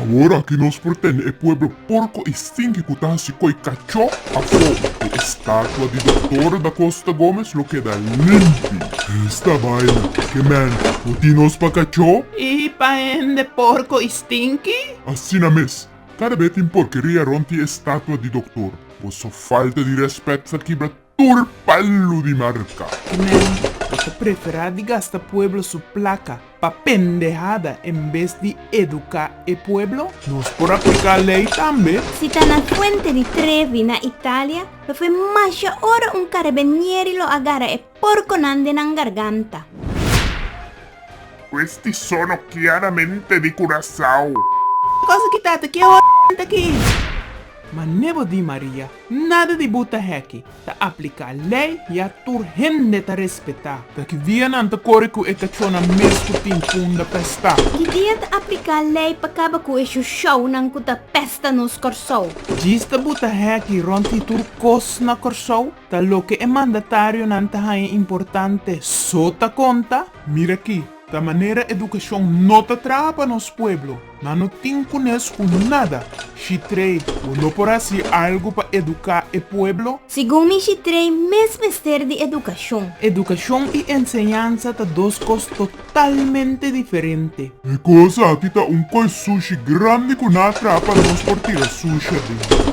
Awor aki nos por tende e pueblo porco y stinky cu ta haci coi cacho afo de e statua di Doctor Da Costa Gomez lo keda limpi. Esta baina ke man no tin nos pa cacho. Y pa hende porco y stinky? Asina mes. Cada be tin porqueria rond di e statua di Doctor. Boso falta di respect sa kibra tur palu di marca. Nan ta prefera di gasta pueblo su placa pa pendehada en bes di educa e pueblo? Nos por aplica ley tambe. Si ta na Fuente di Trevi na Italia lo fue masha ora un carabenieri lo a gara e porconan den nan garganta. Questi sono chiaramente di Curacao. Cosa ki tata kie hora enta aki. Ma nebo di Maria. Nada di buta heki ta apliká lei ya tur hende ta respetá. Ta ki dia nan ta kore ku e kachónan mes ku tin punda pestá. Ki dia ta apliká lei pa kaba ku e shushounan ku ta pesta nos Kòrsou. Djis ta buta heki rònt di tur kos na Kòrsou, ta loke e mandatarionan ta haña importante so ta konta? Mira aki. Ta manera edukashon no ta traha pa nos pueblo. Nan no tin kunes ku nada. Shitrei, bo no por hasi algu pa eduká e pueblo? Segun mi Shitrei mes mester di edukashon. Edukashon i enseñansa ta dos kos totalmente diferente. E kos aki ta un koi sushi grandi ku nan a traha pa nos por tira sushi aden.